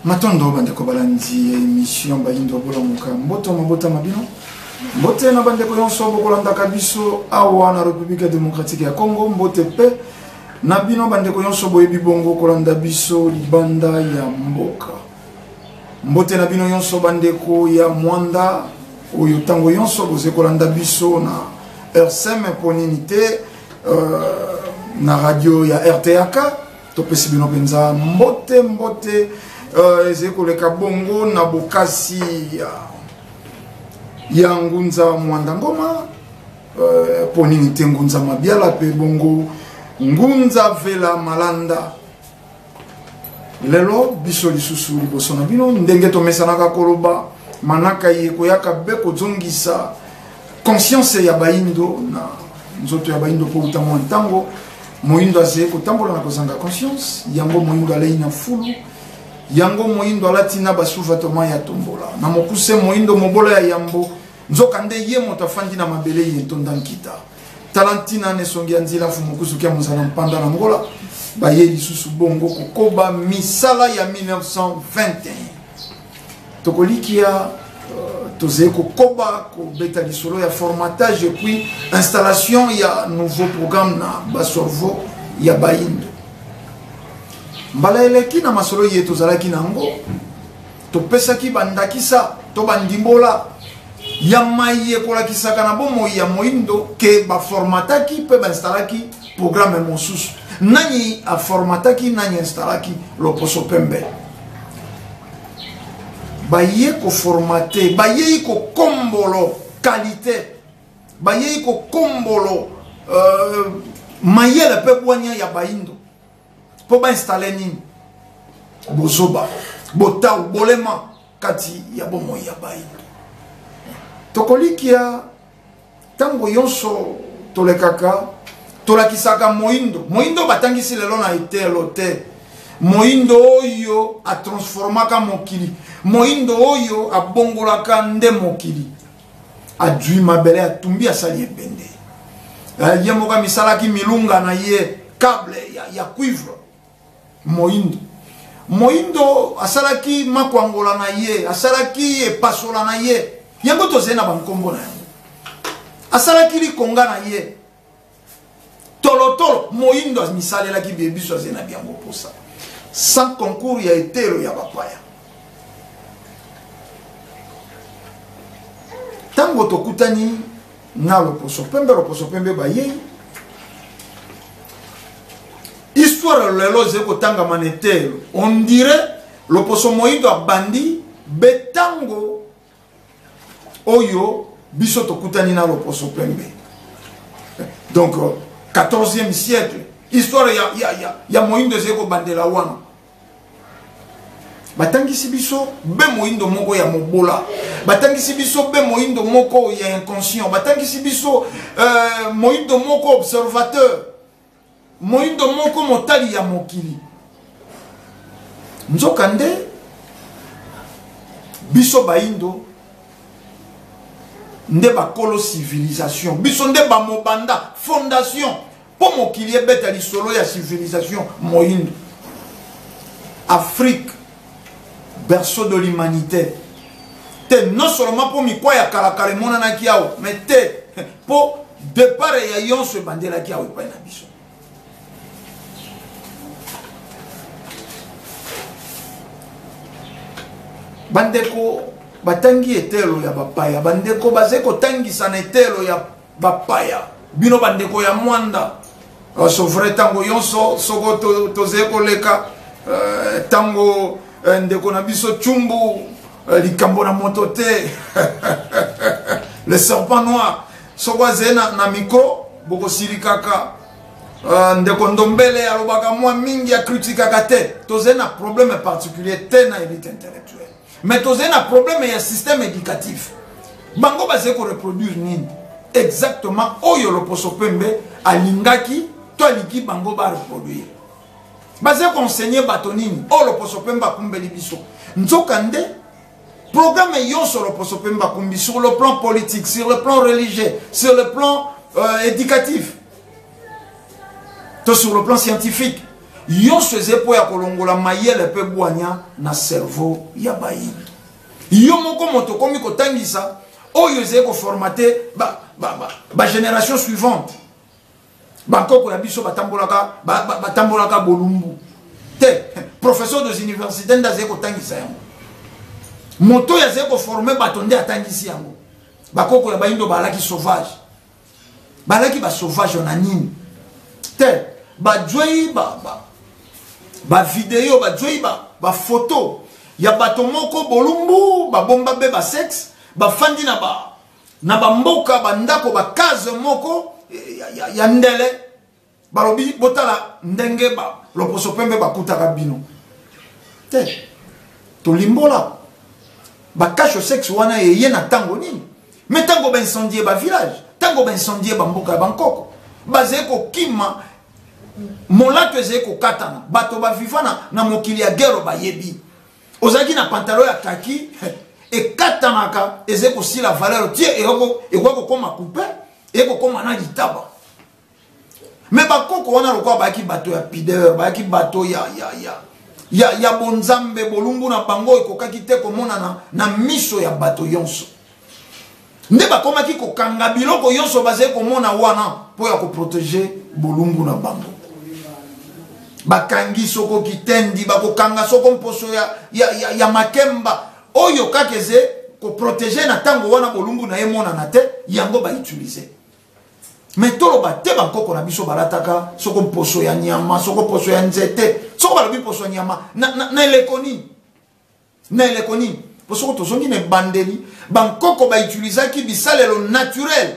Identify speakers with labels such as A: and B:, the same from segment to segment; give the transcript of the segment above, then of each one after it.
A: matondo bandeko balandi ya émission bayindo bolamuka mboto mabota ma bino mbote na bandeko nyonso bokolandaka biso awa na république démocratique ya congo mbote mpe na bino bandeko nyonso boyebi bongo kolanda biso libanda ya mboka mbote na bino nyonso bandeko ya mwanda oyo ntango nyonso boze kolanda biso na rsm mpo nini te euh, na radio ya rtaka topesi bino mpenza mbote mbote uh, ezali koleka bongo na bokasi ya, ya ngunza mwanda ngoma uh, mpo nini te ngunza mabiala mpe bongo ngunza vela malanda lelo biso lisusu liboso na bino ndenge tomesanaka koloba manaka ye koyaka be kozongisa conscience ya bayindo na nzoto ya bayindo mpo uta mwa ntango moyindo azali kotambola na kozanga conscience yango moyindo alei na fulu yango moyindo alati na basuvatoma ya tombola na mokuse moyindo mobola ya yambo nzoka nde ye moto afandi na mabele ye ntonda nkita tala ntina na esongi ya nzela fu mokusuki ya mozala mpanda na ngola baye lisusu bongo kokoba misala ya 1921 tokolikia tozali kokoba kobeta lisolo ya formatage epuis installation ya nouveau programme na basorvo ya baindo mbala eleki na masolo ye tozalaki na yango topesaki bandakisa to bandimbola ya mai ekolakisaka na bomoi ya moindo ke baformataki mpe bainstallaki programme mosusu nani aformataki nani installaki loposo pembe baye koformate bayei kokombolo kalite bayei kokombolo uh, mayele mpe bwania ya baindo mpo bainstalle nini bozoba botau bolema kati ya bomoi ya baindo tokolikia ntango yonso tolekaka tolakisaka moindo moindo batangisi lelo na etelo te moindo oyo atransformaka mokili moindo oyo abongolaka nde mokili adwi mabele atumbi asali ebende eh, ye moko amisalaki milunga na ye cable ya, ya cuivre moindo moindo asalaki makwangola na ye asalaki epasola na ye yango tozali na bankombo na yango asalaki likonga na ye tolotolo moindo amisalelaki bie biso azali na biango mposa sans concours ya etelo ya bapaya ntango tokutani na loposo pembe loposo pembe bayei histoire lelo ezali kotangama na eteyelo on dirait loposo moindo abandi betango oyo biso tokutani na loposo pembe donc 14e euh, siècle histoire ya, ya, ya, ya moindo ezali kobandela wana batangisi biso be moyindo moko ya mobola batangisi biso be moyindo moko ya inconscient batangisi biso euh, moyindo moko observateur moyindo moko motali ya mokili nzoka nde biso bayindo nde bakolo civilisation biso nde bamobanda fondation Mpo mokili ebeta lisolo ya civilisation moindo. Afrique, berceau de l'humanité. Te non seulement mpo mikwa ya kalakala emonanaki awa, mais te mpo depart ya yonso ebandelaki awa epai na biso. bandeko batangi etelo ya bapaya bandeko bazali kotangisa na etelo ya bapaya bino bandeko ya mwanda basovre ntango yonso soko tozali to koleka eh, ntango uh, ndeko na biso cumbu uh, likambo na moto te le serpent noir soko azali na, na mikro bokosilikaka uh, ndeko ndombele alobaka mwa mingi akritikaka te tozali na problème particulier te na elite intellectuelle mais tozali na problème ya système éducatif bango bazali koreproduire nini exactement oyo loposo pembe alingaki to aliki bango bareproduire bazali koenseigne bato nini oyo loposo pembe akumbeli biso nzoka nde programme yonso loposo pembe akumbi sur le plan politique sur le plan religieux sur le plan euh, éducatif to sur le plan scientifique yonso eza mpo ya kolongola mayele mpe bwanya na cerveau ya bayini yo moko moto okomi kotangisa oyo ezali koformate bagénération suivante bankoko ya biso batambolaka batambolaka bolumbu te professeur des universités nde azali kotangisa yango moto oyo azali koforme bato nde atangisi yango bakoko ya bayindo baalaki sauvage balaki ba sauvage wana nini te bajwei ba, ba, ba video bajwei ba, ba photo ya bato moko bolumbu babomba be basexe bafandi na ba na bamboka bandako bakaze moko ya, ya, ya ndele balobi botala ndenge ba loposo pembe bakutaka bino te tolimbola bakasho sexe wana eye na ntango nini me ntango baincendie bavillage ntango baincendie bamboka ya bankoko bazali kokima molato ezali kokatana bato baviva na, na mokili ya gero bayebi ozalaki na pantalo ya kaki ekatanaka ezali kosila valeur tie ekoki kokoma coupe ekokoma na litaba me bakoko wana lokola bayaki bato ya pideur bayaki bato ya, ya, ya, ya, ya bonzambe bolumbu na bango ekokaki te komonana na miso ya bato yonso nde bakomaki kokanga biloko yonso bazali komona wana mpo ya koprotege bolumbu na bango bakangi soko kitendi bakokanga soko mposo ya, ya, ya, ya makemba oyo kaka eze koprotege na ntango wana bolumbu na ye emonana te yango bautilize me toloba te bankoko na biso balataka soko mposo ya nyama soko mposo ya nzete soko balobi mposo ya nyama na, na, na eleko nini na eleko nini mpo soko tozongi na ebandeli bankoko bautilisaki bisalelo naturel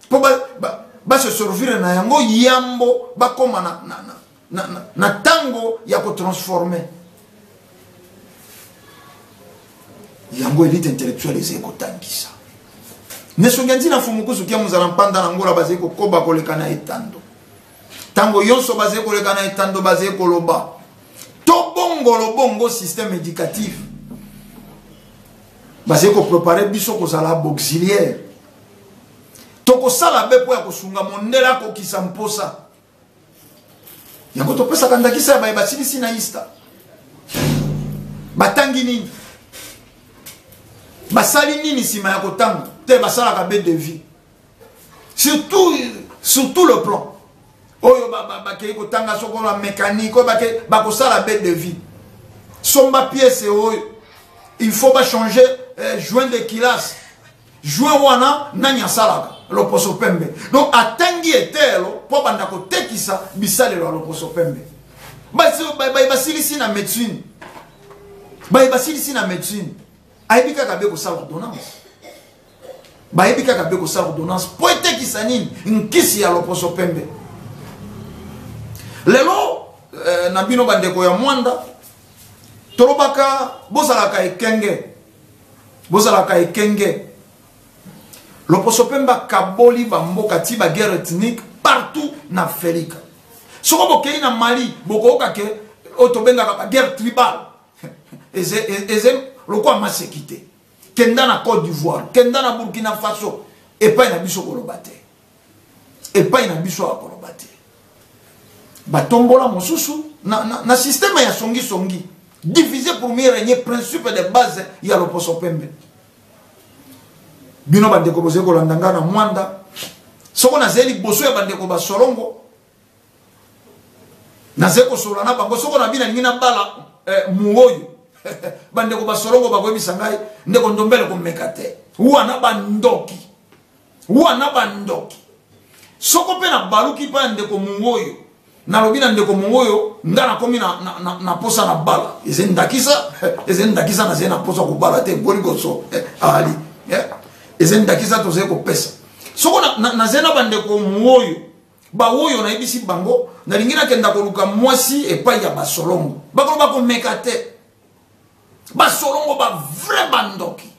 A: mpo ba, ba, baseservire na yango yambo bakóma na, na, na, na, na, na tango ya kotransforme yango elite intellectuelle ezali kotangisa nesongi ntina mfumu kusuki ya mozala mpanda na ngola bazali kokoba koleka na etando ntango yonso bazali koleka na etando bazali koloba tobongolo bongo système éducatif bazali koprepare biso kozala bauxiliaire tokosala be mpo ya kosunga mondele akokisa mposa yango topesaka ndakisa ya baye basilisi na ista batangi nini basali nini nsima ya kotanga te basalaka be de vie surtout sur tout le plan oyo bakei kotanga soko na mécanique oyo bakosala be de vie somba piese oyo il faut bachanger eh, joint de kilase joueur wana nani asalaka loposo pembe donc atangi eteyelo mpo abanda kotekisa bisalelo ya loposo pembe baye basilisi na médecine baye basilisi na médecine ayebi kaka be kosala ordonnance bayebi kaka be kosala ordonnance mpo etekisa nini nkisi ya loposo pembe lelo eh, na bino bandeko ya mwanda tolobaka bozalaka ekenge bozalaka ekenge loposo mpe bakaboli bamboka ti baguerre ethnique partout na afrika soko bokei na mali bokoyoka ke oyo tobengaka baguerre tribal eze lokola maseki te kenda na cote d'ivoire kenda na burkina faso epai na biso koloba te epai na biso awa koloba te batombola mosusu na, na, na systeme ya songisongi divise pour mieux régner principe de base ya loposo pembe bino bandeko bozali kolanda ngai na mwanda soko nazali liboso ya bandeko basolongo nazali kosolola na bango soko na bino alingi nabala eh, muoyo bandeko basolongo bakoyebisa ngai ndeko ndombele komeka te wana bandoki wana bandoki soko mpe nabaluki epai ya ndeko mongo oyo nalobi na ndeko mongo oyo nga nakomi na, na, na, na posa na bala ezali ndakisa ezali ndakisa nazali na posa kobala te boli koso eh, ali eh, ezali ndakisa tozali kopesa soko nazali na, na, na bandeko mongo oyo baoyo nayebisi bango nalingi nakenda koluka mwasi epai ya basolongo bakolo bakomeka te basolongo bavrai bandoki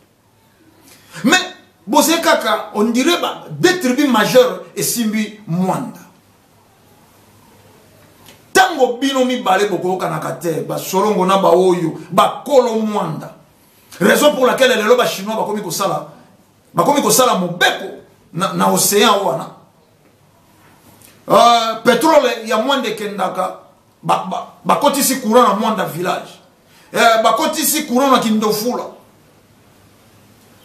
A: mais bozali kaka on dirait ba deux tribus majeure esimbi mwanda ntango bino mibale bokoyokanaka te basolongo na baoyo bakolo mwanda raison pour laquelle lelo bachinois bakomi kosala bakomi kosala mobeko na, na océan wana uh, petrole ya mwanda ekendaka bakotisi courant na mwanda village eh, bakotisi courant na kindofula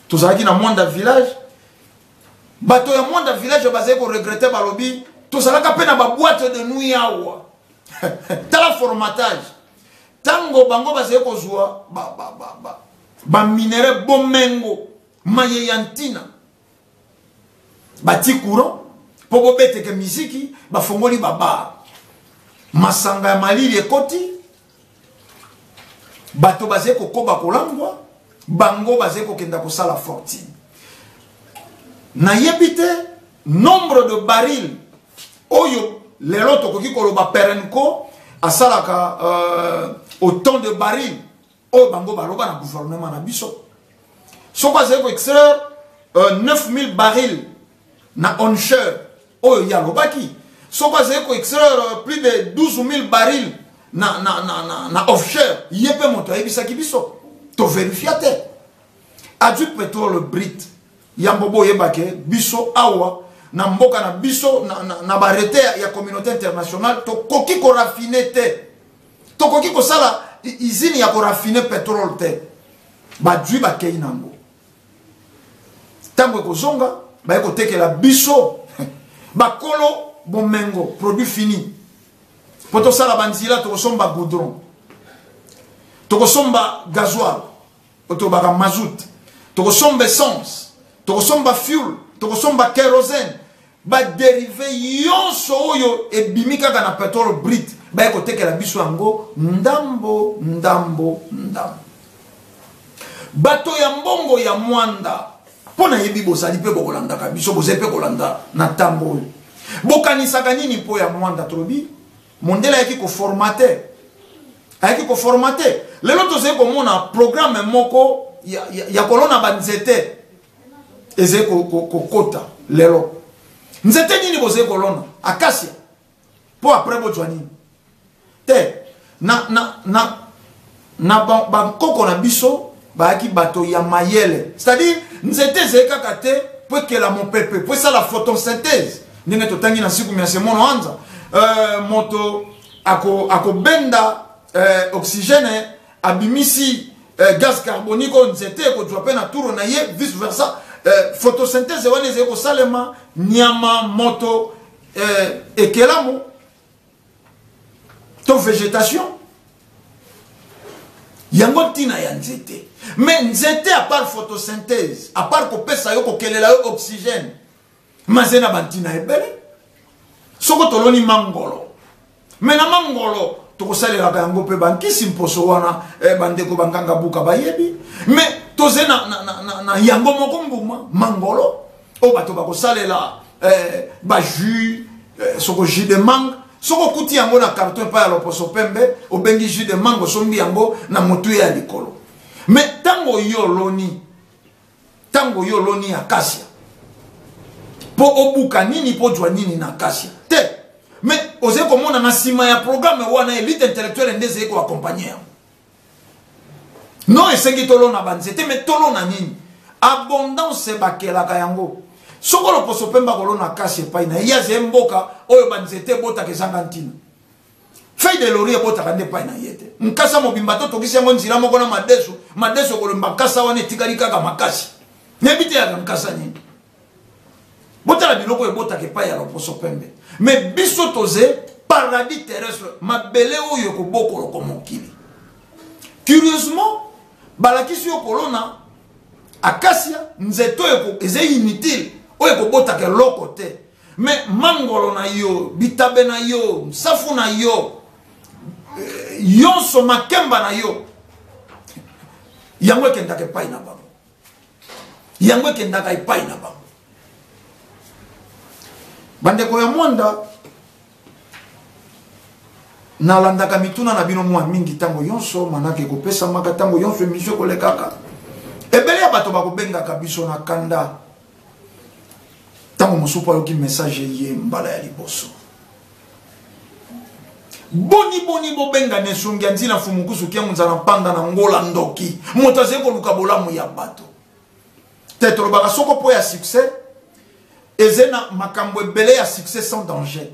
A: tozalaki na mwanda village bato ya mwanda village bazali koregrete balobi tozalaka mpe na baboite de nuit awa tala formatage ntango bango bazali kozwa baminerai bomengo maye ya ntina batie courant mpo bobeteke miziki bafongoli babar masanga ya malili ekoti bato bazali kokoba kolangwa bango bazali kokenda kosala fortune nayebi te nombre de baril oyo lelo tokoki koloba perenco asalaka euh, autant de baril oyo bango baloba na gouvernement na biso soki azali ko extraire uh, 9000 baril na onsheur oyo ye alobaki soki azali ko extraire euh, plus de 12000 baril na, na, na, na, na offshore ye mpe moto ayebisaki biso toverifia te azwi petrole brite yango boyebake biso awa na mboka na biso na, na, na barete ya, ya communauté internationale tokoki korafine te tokoki kosala izini ya korafine petrole te bajui bakei na yango ntango ekozonga baye kotekela biso bakolo bomengo produit fini mpo tosala banzela tokosomba goudron tokosomba gazoil otobaka mazout tokosomba essence tokosomba fuel tokosomba kerosene baderive yonso oyo ebimi kaka na petrole brit baye kotekela biso yango ndambo ndambo ndambo bato ya mbongo ya mwanda mpo nayebi bozali mpe bokolandaka biso bozali mpe kolanda na ntango oyo bokanisaka nini mpo ya mwanda tolobi mondele ayaki koformate ayaki koformate lelo tozali komona programe moko ya, ya, ya kolona banzete ezali kokota lelo nzete nini bozali kolona akasia mpo apres bozwa nini te na, na, na na bankoko na biso bayaki bato ya mayele c'est-à-dire nzete ezali kaka te mpo ekela mopepe mpo esala photosynthèse ndenge totangi na nsiku mya semono anza euh, moto akobenda ako euh, oxygène abimisi euh, gaz carbonique oyo nzete ekozwa mpe na turo na ye vice versa euh, photosynthèse wana ezali kosalema nyama moto euh, ekelamu to vegetation yango ntina ya nzete mais nzete apart photosynthèse apart kopesa yo kokelela yo oxygène maze na bantina ebele soko toloni mangolo me na mangolo tokosalelaka yango mpe bankisi mposo wana eh, bandeko banganga buka bayebi me toze na, na, na, na, na yango moko mbuma mangolo oyo bato bakosalela eh, bajus eh, soko jus de mangue soki okuti yango na karto epai ya loposo pembe obengi jus de mangue osombi yango na motuya ya likolo me ntango oyi oloni ntango oyi oloni ya kasia mpo obuka nini mpo ozwa nini na kasia te me ozali komona na nsima ya programe wana elite intellectuele nde ezali koakompagne yango non esengi tolona banzete me tolona nini abondance bakelaka yango soko loposo mpemba kolona kasi epai na ye ye azali mboka oyo banzete ebotaka ezanga ntina fei de lori ebotaka nde epai na ye te nkasa mobimba to tokisi yango nzela moko na madeso madeso kolomba nkasa wana etikali kaka makasi nayebi te yaka nkasa nini botala biloko oyo ebotaka epai ya loposo pembe me biso toze paradis terrestre mabele oyo ekobokoloko mokili curieusement balakisi yo kolona akasia nzete oyo eza inutile oyo ekobotaka eloko te me mangolo na yo bitabe na yo nsafu na yo eh, yonso makemba na yo yango ekendaka epai na bango yango ekendaka epai na bango bandeko ya mwanda nalandaka mituna na bino mwa mingi ntango nyonso manaka ekopesamaka ntango nyonso emisio ekolekaka ebele ya bato bakobengaka biso na kanda ntango mosusu mpo ayoki message eye mbala ya liboso boni boni bobenga na esungi ya ntina fumukusu kiango nzala mpanda na ngola ndoki moto azali koluka bolamu ya bato te tolobaka soko mpo ya succès eze na makambo ebele ya succès sans danger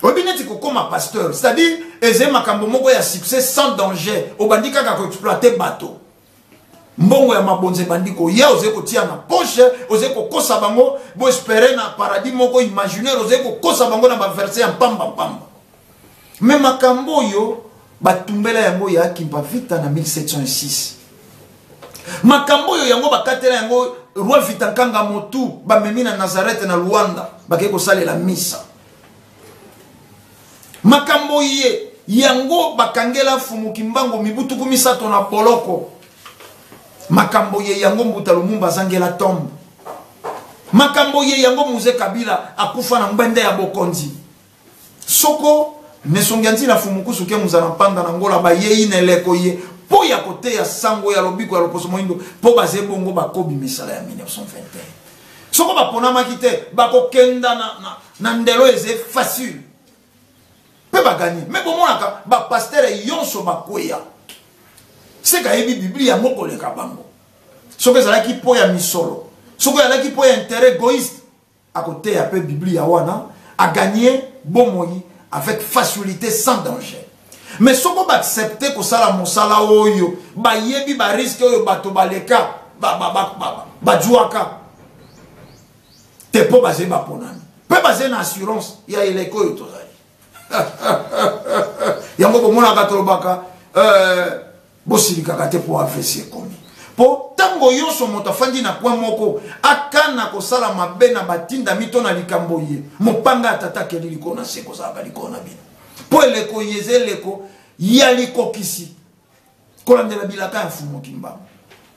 A: oyebi neti kokoma pasteur c'est-à-dire ezali makambo moko ya succès sans danger obandi kaka koexploite bato mbongo ya mabonza ebandi koya ozali kotia na poche ozali kokosa bango boespere na paradis moko imaginaire ozali kokosa bango na baverse ya mpamba mpamba Mais makambo oyo batumbela yango ya Kimpa Vita na 1706. Makambo oyo yango bakatela yango roi Vita Kanga Motu bamemi na Nazareth na Luanda bakei kosalela misa. Makambo ye yango bakangela Fumu Kimbango mibu tuku misato na boloko. Makambo ye yango Mbuta Lumumba azangela tombe. Makambo ye yango Muze Kabila akufa na ngbende ya bokonzi. Soko nesongi anti na fumukusu ke muzala mpanda na ngola bayei na eleko ye mpo ya koteya sango ya lobiko ya loposo moindo mpo baze bongo bakobi misala ya 1921 soko baponamaki te bakokenda na, na, na ndelo eze facile mpe bagani me bomonaka bapastere yonso bakweya seka ayebi biblia yango koleka bango soki ezalaki mpo ya misolo soki ezalaki mpo ya intere egoiste Akoteya pe Biblia wana a gagner bomoi avec facilite sans danger. Mais soko ba accepter kosala mosala oyo bayebi ba risque oyo bato baleka ba ba ba ba ba juaka te po baze baponami pe baze na assurance ya eleko oyo tozali yango bomonaka tolobaka euh, bosilikaka te mpo avc ekomi mpo ntango nyonso moto afandi na kwe moko akana kosala mabe na batindami to na likambo ye mopanga ya tata akeli likolo na se kozalaka likolo na bino mpo eleko ye eza eleko ya likokisi kolandela bilaka ya fumo kimbangu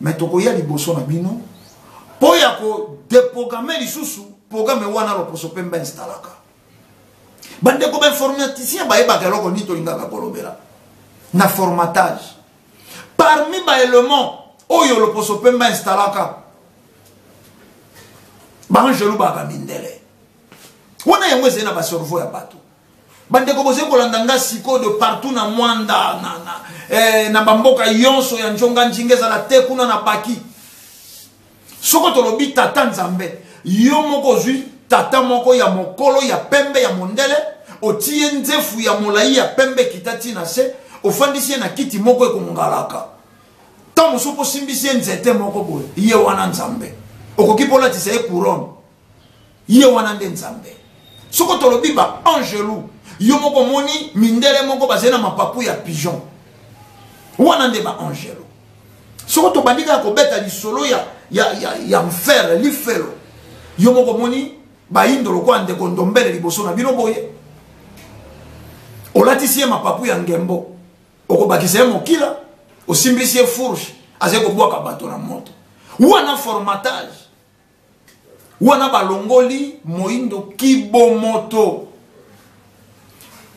A: me tokoya liboso na bino mpo ya kodeprograme lisusu programe wana loposo mpe mba instalaka bandeko bainformaticien bayebaka eloko nini tolingaka kolobela na formatage parmi baelement oyo loposo pembe instalaka baangelu baka mindele wana yango ezali na baservo ya bato bandeko bozali kolanda ngai sikoyo de partout na mwanda na, na, eh, na bamboka yonso ya njonga njinga ezala te kuna na baki soko tolobi tata nzambe yo moko ozwi tata moko ya mokolo ya pembe ya mondele otiye nzefu ya molai ya pembe ekita ti na se ofandisi ye na kiti moko ekongalaka ntango mosusu mpo osimbisi ye nzete moko boye ye wana nzambe okoki mpo olatisa ye couronne ye wana nde nzambe soko tolobi ba angelu yo moko moni mindele moko bazali na mapapu ya pigeon wana nde ba angelu soko tobandi kaka kobeta lisolo ya, ya, ya, ya mfere lifelo yo moko moni bayindo lokola ndeko ndombele liboso na bino boye olatisi ye mapapu ya ngembo okobakisa ye mokila osimbisi ye fourche azali kobwaka bato na moto wana formatage wana balongoli moindo kibomoto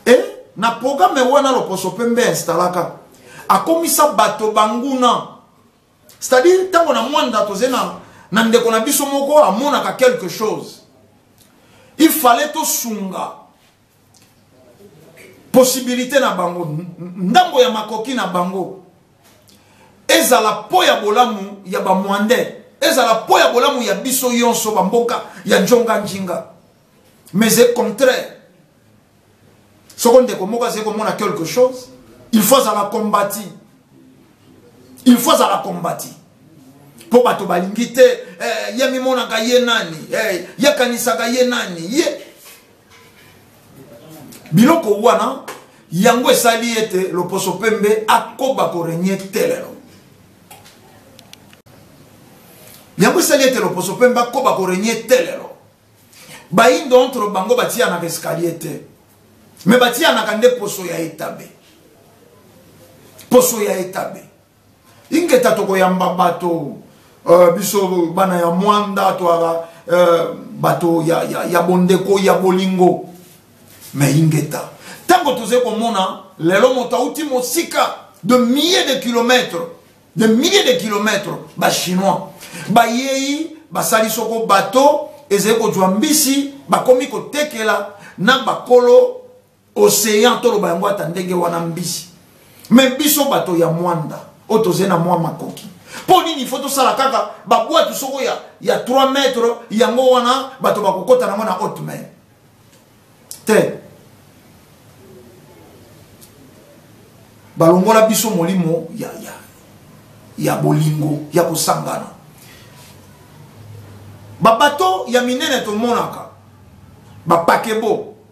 A: e na programe wana loposo pembe instalaka akomisa bato banguna c'est-à-dire ntango na mwanda tozali na, na ndeko na biso moko amonaka quelque chose il fallait tosunga possibilité na bango ndambo ya makoki na bango ezala po ya bolamu ya bamwandais ezala po ya bolamu ya biso yonso bamboka ya njonga njinga mais e contraire soko ndeko moko azali komona quelque chose il faut azala kombati il faut azala kombati mpo bato balingi te eh, ye mimonaka ye nani eh, ye akanisaka ye nani ye biloko wana yango esali ete loposo pembe akoba korenye te lelo yango esali ete loposo pembe akoba korenye te lelo bayindo entre bango batiyanaka escalier te me batiyanaka nde poso ya etabe poso ya etabe ingeta tokoyamba bato uh, biso bana ya mwanda twara uh, bato ya, ya, ya bondeko ya bolingo me ingeta ntango tozali komona lelo moto auti mosika de milliers de kilomètres de milliers de kilomètres bachinois bayei basali soko bato ezali kozwa mbisi bakomi kotekela na bakolo ocean toloba yango ata ndenge wana mbisi me biso bato ya mwanda oyo tozali na mwa makoki mpo nini ifo tosala kaka babwatu soko ya, ya 3 mètre yango wana bato bakokota nango na haute main te balongola biso molimo ya, ya, ya bolingo ya kosangana babato ya minene tomonaka bapakebo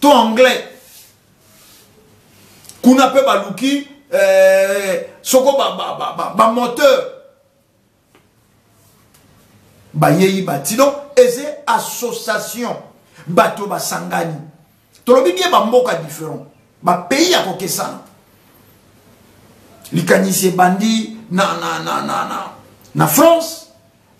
A: to anglais kuna mpe baluki eh, soko bamoteur ba, ba, ba, ba, ba bayeyi bati donc eza association bato basangani tolobi bie bamboka différent bapays ya kokesana likanisi ebandi na, na, na, na, na, na france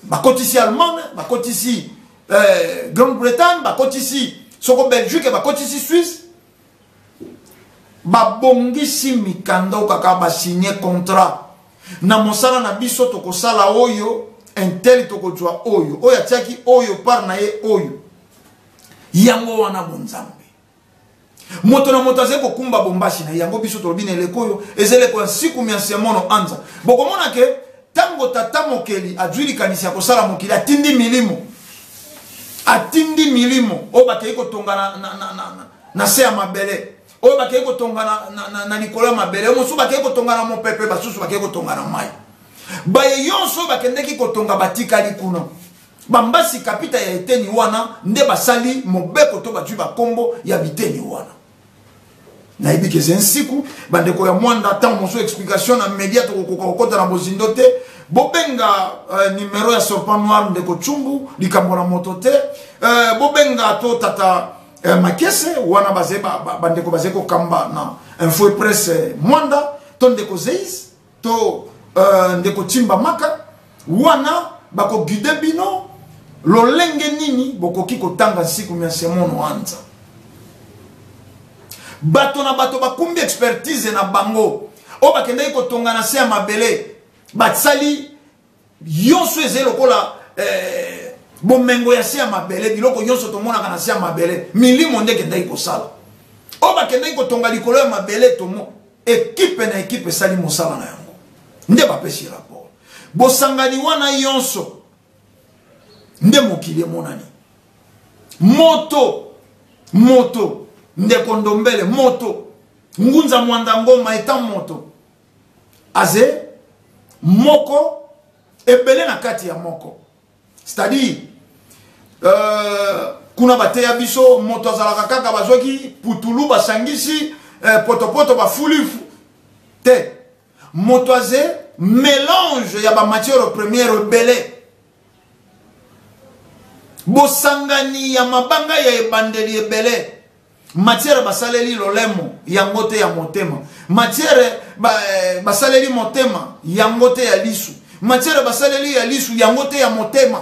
A: bakotisi allemagne bakotisi euh, grande bretagne bakotisi soko belgique bakotisi suisse babongisi mikanda oyo kaka basigne contrat na mosala na biso tokosala oyo intel tokozwa oyo oyo atiaki oyo par na ye oyo yango wana bonzambe moto na moto azali kokumba bombashi na yango biso tolobi na eleko oyo eza eleko ya nsiku mya nse ya mono anza bokomona ke ntango tata mokeli azwi likanisi ya kosala mokili atindi milimo atindi milimo oyo bakei kotonga na, na, na, na, na, na se ya mabele oyo bakei kotonga na, na, na, na likolo ya mabele mosusu bakei kotonga na mopepe basusu bakei kotonga na mai baye yonso oyo bakendeki kotonga batikali kuna Bambasi kapita ya eteni wana nde basali mobeko to batwi bakombo ya biteni wana. nayebi ke eza nsiku bandeko ya mwanda ntango mosusu explication na media tokokoka kokota na bozindo te bobenga uh, numero ya sorpan noir ndeko cumbu likambo na moto te uh, bobenga to tata uh, makese wana baze bandeko ba, ba baze kokamba na info presse mwanda to ndeko zeis to euh, ndeko timba maka wana bakoguide bino lolenge nini bokoki kotanga nsiku mya semono wanza bato na bato bakumbi expertise na bango oyo bakendaki kotonga na se ya mabele basali yonso ezali lokola eh, bomengo ya se ya mabele biloko nyonso tomonaka na se ya mabele milimo nde ekendaki kosala oyo bakendaki kotonga likolo ya mabele tomo ekipe na ekipe esali mosala na yango nde bapesi rapport bosangani wana yonso nde mokili emonani moto moto ndeko ndombele moto ngunza mwanda ngoma eta moto aze moko ebele na kati ya moko c'est-à-dire euh, kuna bateya biso moto azalaka kaka bazwaki putulu basangisi euh, potopoto bafuli te moto aze mélange ya bamatière première ebele bosangani ya mabanga ya ebandeli ebele matière basaleli lolemo yango te ya motema matière eh, basaleli motema yango te ya lisu matière basaleli ya lisu yango te ya motema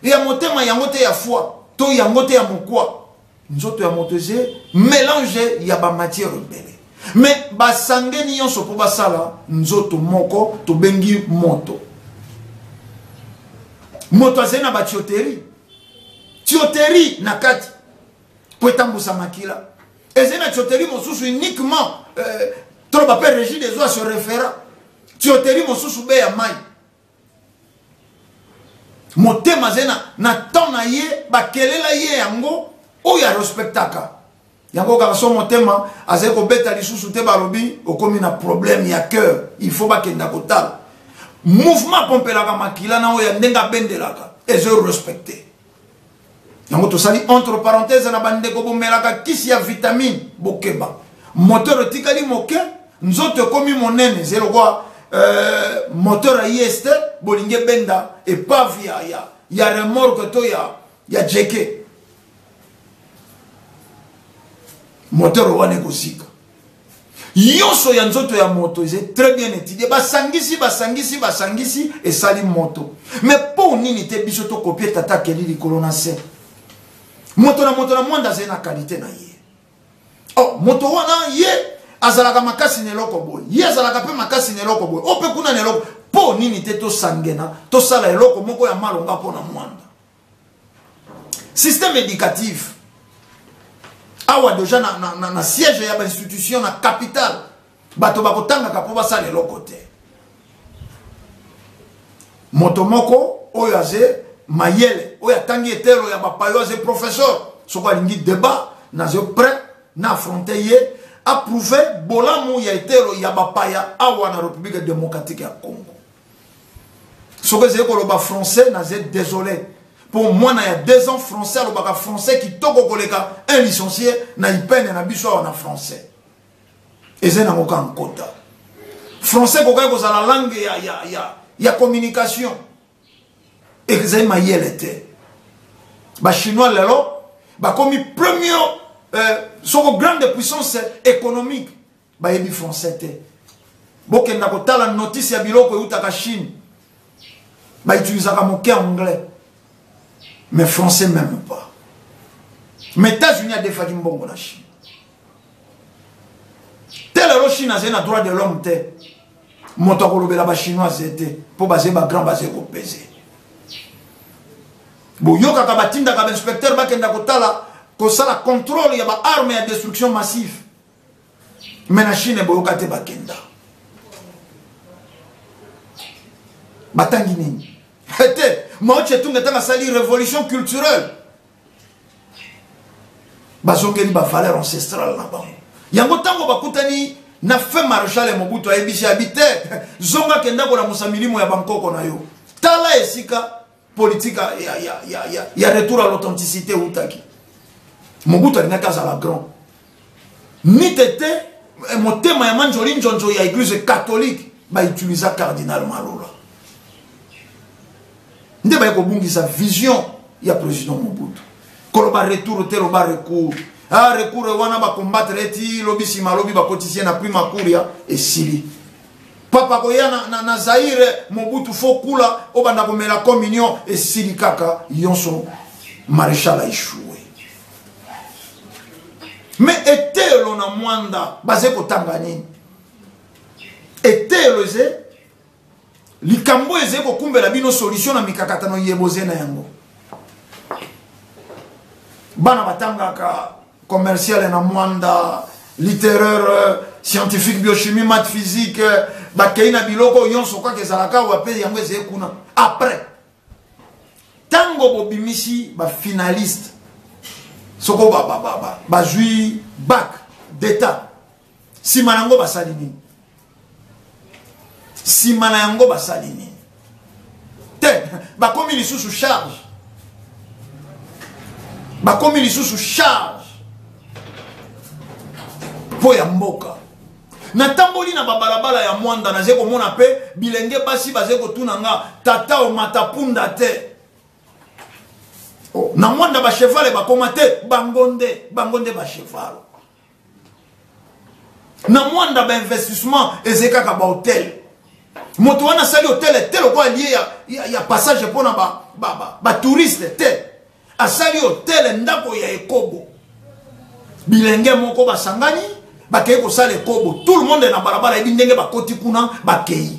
A: ya motema yango te ya foi to yango te ya mokwa nzoto ya moto eze melange ya bamatière ebele me basangeni nyonso mpo basala nzoto moko tobengi moto moto azali na batioterie tioterie na kati mpo etambwisa makila ezali na tioteli mosusu uniquement euh, toloba mpe régie des eaux ya se référa tioteli mosusu be ya mai motema azali na, na temps na ye bakelela ye yango oyo arespectaka yango kaka so motema azali kobeta lisusu te balobi okomi na problème ya cœur il faut bakenda kotala mouvement apompelaka makila na oyo ya ndenge abendelaka ezo respecte yango tosali entre parenthèse na bandeko bomelaka kisi ya vitamine bokeba moteur etikali moke nzoto ekomi monene ze lokola euh, moteur ayi este bolingi ebenda epave ya, ya, ya remorke to ya, ya jeke moteur wana ekozika nyonso ya nzoto ya moto eza très bien étudie basangisi basangisi basangisi esali moto mais mpo nini te biso tokopie tata akeli likolo na se moto na moto na mwanda azali na kalite na ye oh, moto wana ye azalaka makasi na eloko boye ye azalaka mpe makasi na eloko boye o mpe kuna na eloko mpo nini te tosangena tosala eloko moko ya malonga mpo na mwanda système éducatif awa deja na, na, na, na siège ya bainstitution na capitale bato bakotangaka mpo basala eloko te moto moko oyo aze mayele oyo atangi etelo ya bapayo aze professeur soki alingi débat naze prêt na affronte ye approuve bolamu ya etelo ya bapaya awa na république démocratique ya congo soki ezali koloba français naza désolé mpo mwana ya deux ans français alobaka français kitoko koleka un licencie na ipene na biso awa na français eza nango kaka nkota français kokaki kozala langue ya, ya, ya, ya communication ezali mayele te bachinois lelo bakomi premier euh, soko grande puissance économique bayebi français te bokenda kotala notice ya biloko eutaka chine bautilisaka moke anglais mais français même pas mais états-unis adefaki mbongo na chine te lelo chine azali na droit de l'homme te moto akolobela bachinoise te mpo baze bagrand baze kopese boyokaka batindaka bainspecteur bakenda kotala kosala contrôle ya baarme ya destruction massive me na chine boyoka te bakenda batangi nini ete mao chetunga ntango asali révolution culturelle bazongeli bavaleur ancestrale na bango yango ntango bakutani na fin maréchal ya mobutu ayebisi abi te zonga kenda kolamusa milimo ya bankoko na yo tala esika politique ya, ya, ya, ya, ya retour à l'authenticité eutaki mobutu alingaki azala grand ni tete eh, motema ya manjoli njonjo ya église catholique baitilisa cardinal malola nde baye kobungisa vision ya président mobutu koloba retour te loba recours ah recours wana bakombattre eti lobi nsima lobi bakotisi ye na prima cour ya esili papa koya na, na, na zaire mobutu fo kula obanda komela communion esili kaka yonso maréchal aishoue me eteyelo na mwanda baze kotanga nini eteyelo eze likambo eze kokumbela bino solution na mikakatano ye boze na yango bana batangaka commercial na mwanda littéraire euh, scientifique biochimie math physique euh, bakei na biloko oyo nyonso kaka ezalaka awa mpe yango ezali kuna après ntango bobimisi bafinaliste soko bazwi ba, ba, ba, bak d'état nsima na yango basali nini nsima na yango basali nini te bakomi lisusu charge bakomi lisusu charge mpo ya mboka natamboli na babalabala ya mwanda naze komona mpe bilenge basi baze kotuna nga tata omata punda te oh, na mwanda bachevale bakoma te bango nde bango nde bachevale na mwanda bainvestissement ezali kaka bahotel moto wana asali hotel te lokola lie ya, ya, ya passage mpo na batouriste ba, ba, ba te asali hotel ndako ya ekobo bilenge moko basangani bakei kosala ekobo tout le monde na balabala yebi ndenge bakoti kuna bakei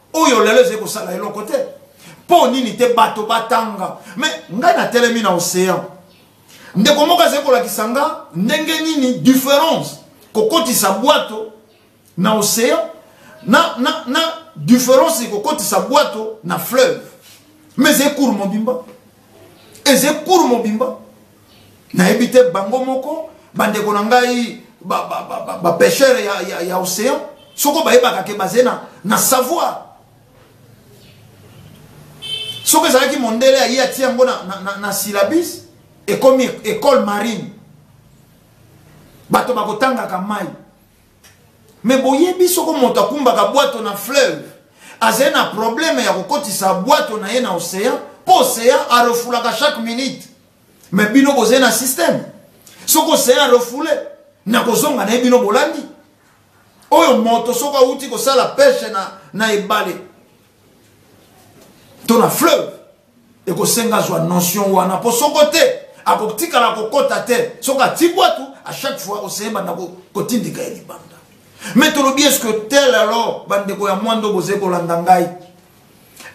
A: oyo lelo ezali kosala eloko te mpo nini te bato batanga me ngai natelemi na océan ndeko moko azali kolakisa nga ndenge nini différence kokotisa bwato na océan na, na, na différence kokotisa bwato na fleuve me ezali cour mobimba eze cour mobimba nayebi te bango moko bandeko na ngai bapeshere ba, ba, ba, ya, ya, ya océan soko bayebaka ke baze na, na savoir soki ezalaki mondele aye atia yango na, na, na, na syllabus ekomi école marine bato bakotangaka mai me boyebi soko moto akumbaka bwato na fleuve azali na probleme ya kokotisa bwato na ye na ocean mpo ocean arefulaka chaque minute me bino bozali na systeme soko ocean arefule na kozonga na ye bino bolandi oyo moto soko awuti kosala peshe na, na ebale to na fleuve ekosenga azwa notion wana mpo soko te akotikala kokota te soki ati bwatu à chaque fois oseye banda kotindika ye libanda me tolobi eske tel alors bandeko ya mwando bozali kolanda ngai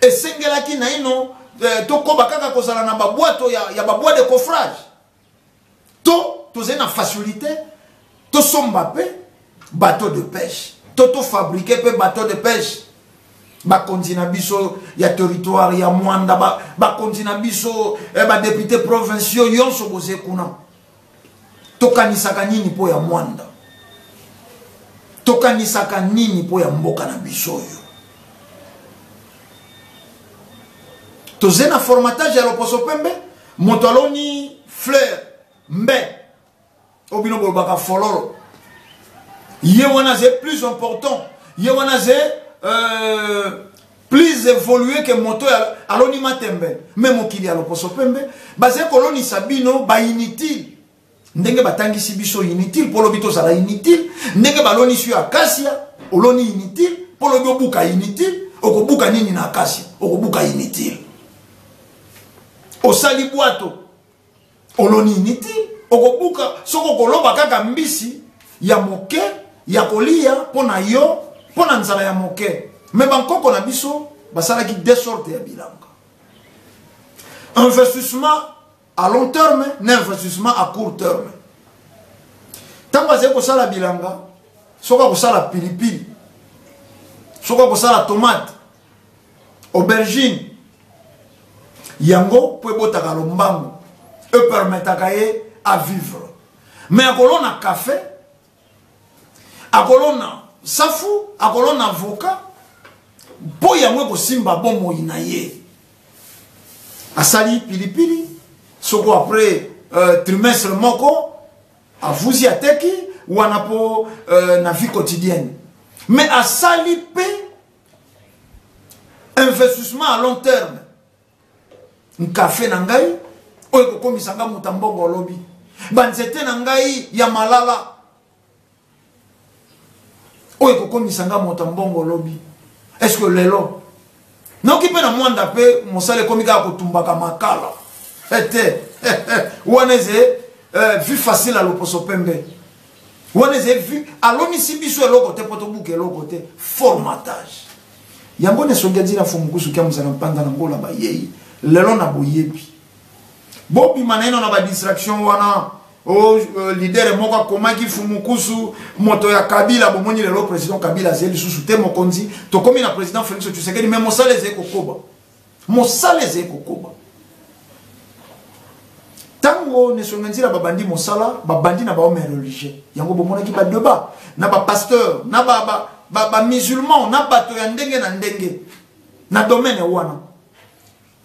A: esengelaki naino eh, tokoba kaka kozala na babwato ya, ya babwa de coffrage to tozali na facilité tosomba mpe bateau de pêche to tofabrike mpe bateau de pêche bakonzi na biso ya territoire ya mwanda bakonzi na biso eh, badepute provinciaux yonso boze kuna tokanisaka nini mpo ya mwanda tokanisaka nini mpo ya mboka na biso oyo toze na formatage ya loposo pembe moto aloni fleur mbe oyo bino bolobaka fololo ye wana aze plus important ye wana aze euh, plus évolué ke moto aloni matembe me mokili ya lokoso pembe baze kolonisa bino bainutile ndenge batangisi biso inutile mpo lobi tozala inutile ndenge balonisi yo akasia oloni inutile mpo lobi obuka inutile okobuka nini na akasia okobuka inutile osali bwato oloni inutile okobuka soki okoloba kaka mbisi ya moke ya kolia mpo na yo mpo na nzala ya moke me bankoko na biso basalaki de sorte ya bilanga investissement à long terme na investissement à court terme ntango azali kosala bilanga soki akosala pilipili soki akosala tomate aubergine yango mpo ebotaka lombango epermetaka ye avivre me akolona kafe akolona safu akolona avoka mpo yango ekosimba bomoi na ye asali pilipili soko après euh, trimestre moko avuzi ateki wana mpo euh, na vie quotidienne mais asali mpe investissement à long terme nkafe na ngai oyo ekokomisa ngai moto ya mbongo olobi banzete na ngai ya malala oyo ekokomisa ngai moto ya mbongo olobi eske lelo noki mpe na mwanda mpe mosala ekomi kaka kotumbaka makala ete eh, eh, eh, wana eze vi facile ya loposo pembe wana eza vu alonisi biso eloko te mpo tobuka eloko te formatage yango na songi adina fo mokusu kia mozala mpanda na ngola bayei lelo na boyebi bobima naino na badistraction wana o oh, uh, eh, lidere moko akomaki fumukusu moto ya kabila bomoni lelo président kabila azali lisusu te mokonzi tokomi na président félix tshisekedi me mosala ezali kokoba Mosala ezali kokoba. Tango Nesonga Nzila babandi mosala, babandi na bahomme religieux. Yango bomonaki ba debat na ba pasteur, na ba ba ba, ba musulman, na bato ya ndenge na ndenge na domaine wana.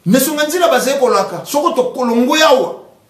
A: Nesonga Nzila bazali kolaka soko tokolongwe awa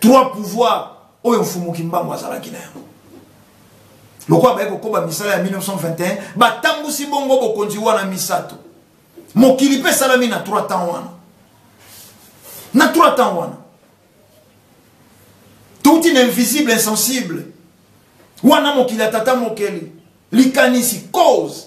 A: trois pouvoir oyo mfumu kimbangu azalaki na yango lokola baye kokoba misala ya 1921 batambusi bongo bokonzi wana misato mokili mpe esalami na trois temps wana na trois temps wana touti na invisible insensible wana mokili ya tata mokeli likanisi cause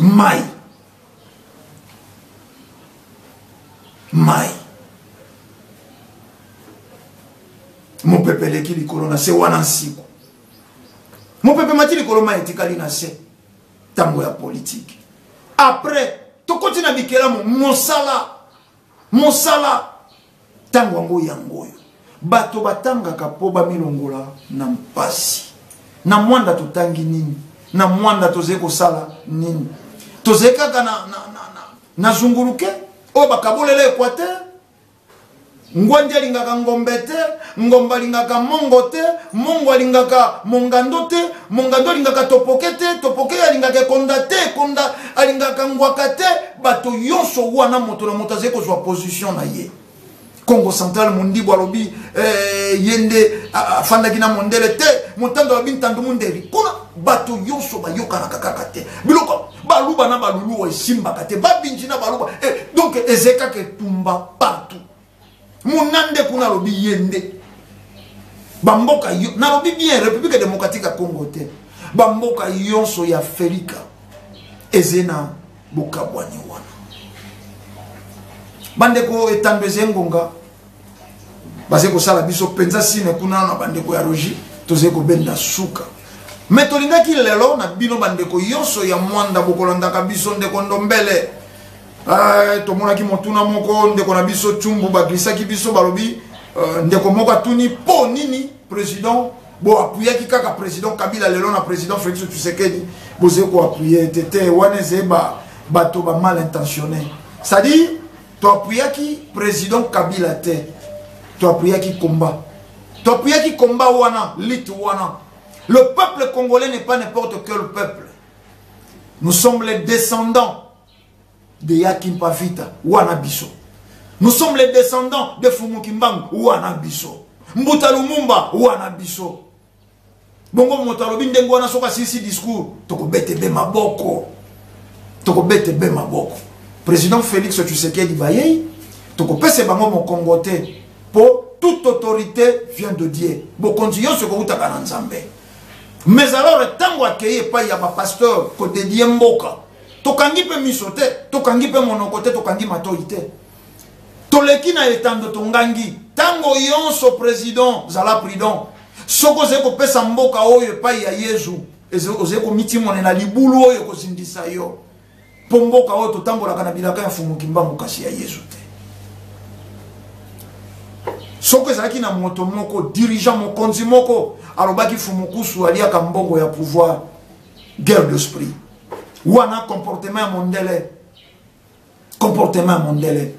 A: mai mai mopepe eleki likolo na se wana nsiku mopepe mati likolo mai etikali na se ntango ya politike apres tokoti na bikelamu mosala mosala ntango yango yango oyo bato batangaka mpo bamilongola na mpasi na mwanda totangi nini na mwanda tozali kosala nini tozali kaka na, na, na, na, na zunguluke oyo bakabolela equateur ngwandi alingaka ngombe te ngombe alingaka mongo te mongo alingaka mongando te mongando alingaka topoke te topoke alingaka ekonda te ekonda alingaka ngwaka te bato yonso wana moto na moto azali kozwa position na ye congo central mondibu alobi eh, ye nde afandaki na mondele te motando alobi ntando mondeli kuna bato yonso bayokanaka kaka te biloko baluba na baluluwa esimbaka te babinji na baluba eh, donc ezali kaka etumba partout munande kuna alobi ye nde bamboka nalobi bien république démocratique ya congo te bamboka yonso ya felika eze na bokabwani wana bandeko etando eze ngonga baze kosala biso mpenza sine kuna na bandeko ya rogi toze kobenda suka me tolingaki lelo na bino bandeko yonso ya mwanda bokolandaka biso ndeko ndombele Eh, tomonaki motuna moko ndeko na biso cumbu baglisaki biso balobi eh, ndeko moko atuni mpo nini président boapuyaki kaka président kabila lelo na président félix tshisekedi bozali koapuye te te wana ezali bato ba mal intentionné c'est-à-dire toapuyaki président kabila te toapuyaki combat toapuyaki combat wana lite wana le peuple congolais n'est pas n'importe quel peuple nous sommes les descendants de ya kimpa vita wana biso nous sommes les descendants de fumu kimbangu wana biso mbuta lumumba wana biso bongo moto alobi ndenge wana soki asilisi discours tokobete be maboko tokobete be maboko président félix tshisekedi bayei tokopesa bango mokongo te mpo toute autorité vient de dieu bokonzi nyonso ekowutaka na nzambe mais alors ntango akei epai ya bapasteur kodedie mboka tokangi mpe miso te tokangi mpe monoko te tokangi matoi te toleki na etando tongangi ntango yonso president zala prudent soki ozali kopesa mboka oyo epai ya yezu ozali komitimonela libulu oyo ekozindisa yo mpo mboka oyo totambolaka na bilaka ya mfumu kimbangu kasi ya yezu te soki ezalaki na moto moko dirigeant mokonzi moko alobaki fumukusu aliaka mbongo ya pouvoir guerre de sprit wana comportement ya mondele comportement ya mondele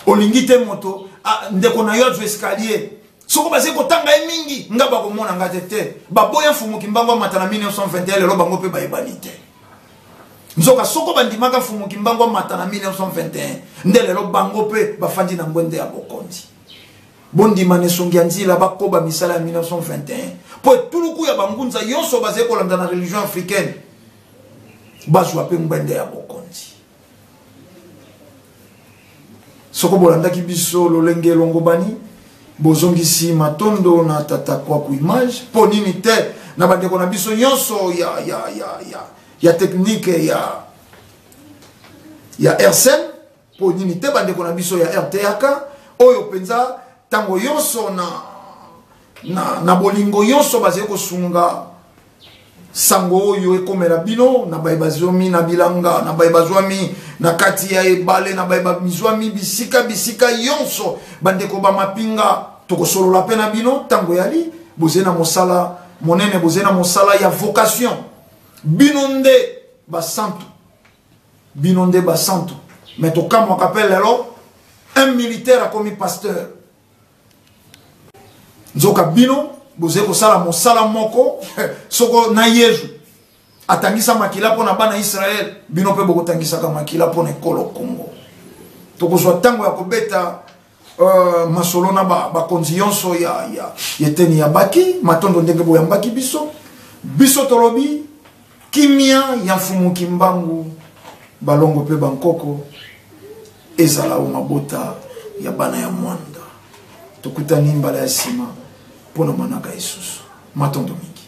A: olingi te moto ah, ndeko na yo azwa escalier soko bazali kotanga ye mingi nga bakomona nga te te baboya mfumuki mbango amata na 1921 lelo bango mpe bayebani te nzoka soko bandimaka mfumuki mbango amata na 1921 nde lelo bango mpe bafandi na ngwende ya bokonzi bondima na esongi ya nzila bakoba misala ya 1921 mpo etuluku ya bangunza nyonso bazali kolanda na religion africaine bazwa mpe ngbende ya bokonzi soko bolandaki biso lolenge elongobani bozongisi matondo na tata kwaku image mpo nini te na bandeko na biso nyonso ya, ya, ya, ya, ya teknike ya, ya rsn Mpo nini te bandeko na biso ya RTAK oyo mpenza ntango yonso na, na, na bolingo yonso bazali kosunga sango oyo ekomela bino na baye bazwami na bilanga na baye bazwami na kati ya ebale na baye bazwami bisika bisika yonso bandeko bamapinga tokosolola mpe na bino ntango eyali boze na mosala monene boze na mosala ya vocation bino nde basantu bino nde ba santu mais tokamwaka mpe lelo un militaire akomi pasteur nzoka bino bozali kosala mosala moko soko na yezu atangisa makila mpo na bana israele bino mpe bokotangisaka makila mpo na ekolo kongo tokozwa ntango ya kobeta Euh, masolo na bakonzi ba yonso ya, ya, ya eteni ya baki matondo ndenge boyambaki biso biso tolobi kimia ya mfumu kimbangu balongo mpe bankoko ezala o mabota ya bana ya mwanda tokutani mbala ya nsima mpo na manaka esusu matondo mingi